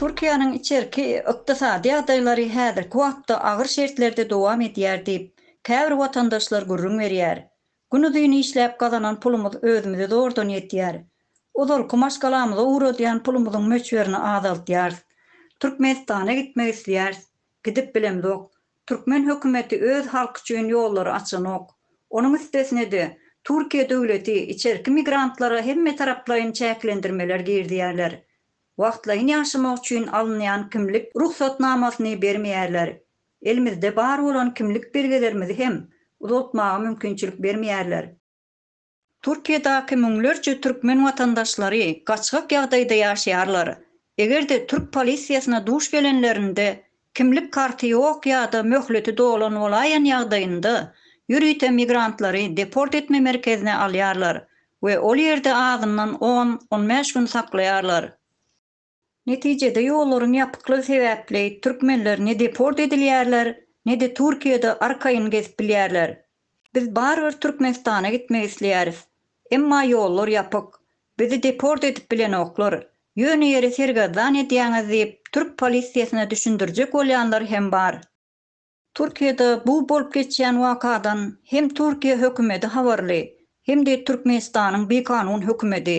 Türkiýäniň içerki ykdysady ýagdaýlary häzirki wagtda agyr şertlerde dowam edýär diýip, käbir watandaşlar gürrüň berýär. Günuzyn işläp gazanan pulumyz özümize zordan ýetýär. Ozalky maşgalamyza ugradýan pulumyzyň möçberini azaltýarys. Türkmenistana gitmek isleýäris. Gidip bilemzok. Türkmen hökümeti öz halky üçin ýollary açanok. Onuň üstesine-de, Türkiýe döwleti içerki migrantlara hemmetaraplaýyn çäklendirmeler girizýärler. Wagtlaýyn ýaşamak üçin alynýan kimlik rugsatnamasyny bermeýärler. Elimizde bar bolan kimlik belgelerimizi hem uzaltmaga mümkinçilik bermeýärler. Türkiýedäki müňlerçe türkmen watandaşlary gaçgak ýagdaýda ýaşaýarlar. Eger-de türk polisiýasyna duş gelenlerinde, kimlik karty ýok ýa-da möhleti dolan bolaýan ýagdaýynda, ýörite migrantlary deport etme merkezine alýarlar we ol ýerde azyndan on, on bäş gün saklaýarlar. Netijede ýollaryň ýapyklygy sebäpli türkmenler ne deport edilýärler, ne-de Türkiýede arkaýyn gezip bilýärler. Biz barybir Türkmenistana gitmek isleýäris. Emma ýollar ýapyk. Bizi deport edip bilenoklar. Ýöne ýere sergezdan edýäňiz diýip türk polisiýasyna düşündirjek bolýanlar hem bar. Türkiýede bu bolup geçýän wakadan hem Türkiýe hökümedi habarly, hem-de Türkmenistanyň bikanun hökümedi.